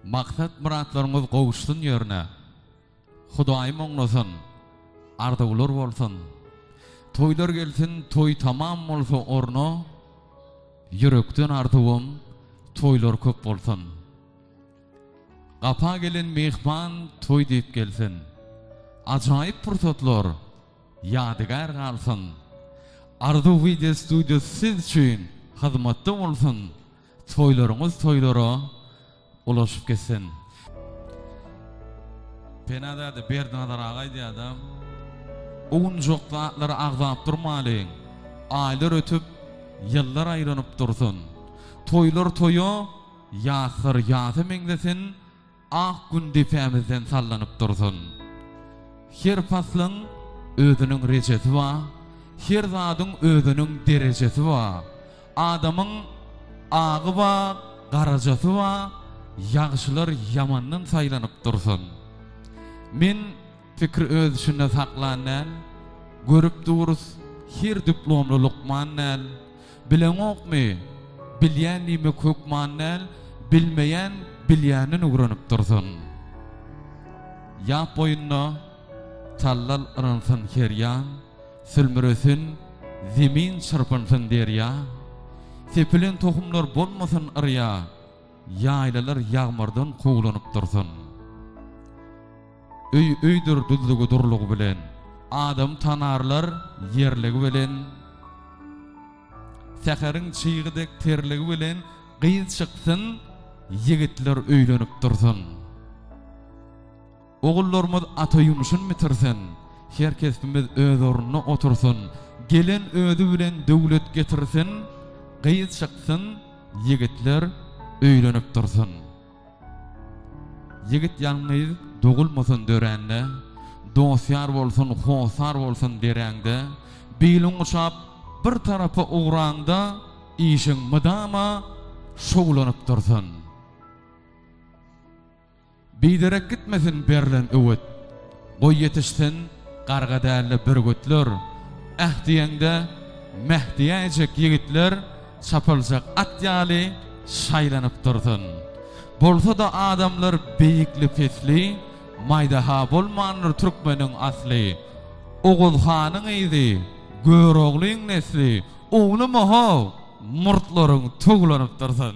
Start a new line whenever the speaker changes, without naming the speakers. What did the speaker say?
Maksat muratlaryňyz gowuşsyn ýerine Hudaýym oňlasyn arzuwlar bolsun Toýlar gelsin toý tamam bolsa orna Ýürekden arzuwym toýlar köp bolsun Gapa gelen myhman toý diýip gelsin Ajaýyp pursatlar ýadygär galsyn Arzuw wideo studio siz üçin hyzmatda bolsun. Toýlaryňyz toýlara ulaşyp gitsin. Penazade Berdinazar aga aýdýarda, Owunjak zatlary agzap durmalyň. Aýlar ötüp, ýyllar aýlanyp dursun. Toýlar toýa, ýaslar ýasa meňzesin. Ak gün depämizden sallanyp dursun. Her paslyň özüniň rejesi ba, her zadyň özüniň derejesi ba. Adamyň agy ba, garajasy ba, ýagşylar ýamandan saýlanyp dursun. Men. Fikri öz içinde saklan däl, Görüp durus, her diplomly lukman däl. Bileňokmy, bilýän diýmek hökman däl, Bilmeýän bilýänden öwrenip dursun. Ýap boýunda tallal yrynsyn her ýan, Sülmüresin zemin, çyrpynsyn derýa. Sepilen tohumlar bolmasyn yrýa, Ýaýlalar ýagmyrdan kowlanyp dursun. Öý öýdür düzlügi durlugy bilen. Adam tanarlar ýerligi bilen. Säheriň çygy dek terligi bilen gyz çyksyn, ýigitler öýlenip dursun. Ogullarymyz ata ýumşun bitirsin, her kesbimiz öz ornuna otursyn, gelen özi bilen döwlet getirsin, gyz çyksyn, ýigitler öýlenip dursun. Ýigit ýalňyz dogulmasyn döräňde, Dost-ýar bolsun, hossar bolsun deräňde, Biliň guşap bir tarapa ugraňda, Işiň mydama şowlanyp dursun. Biderek gitmesin berlen öwüt. Goý ýetişsin garga dälde bürgütler, Äh diýeňde meh diýäýjek ýigitler çapyljak at ýaly şaýlanyp dursun. Bolsa-da adamlar beýikli-pesli, Maýda-ha bolmandyr türkmeniň asly. Oguz hanyň yzy, Göroglyň nesli, Oglum-o-how, murtlaryň towlanyp dursun.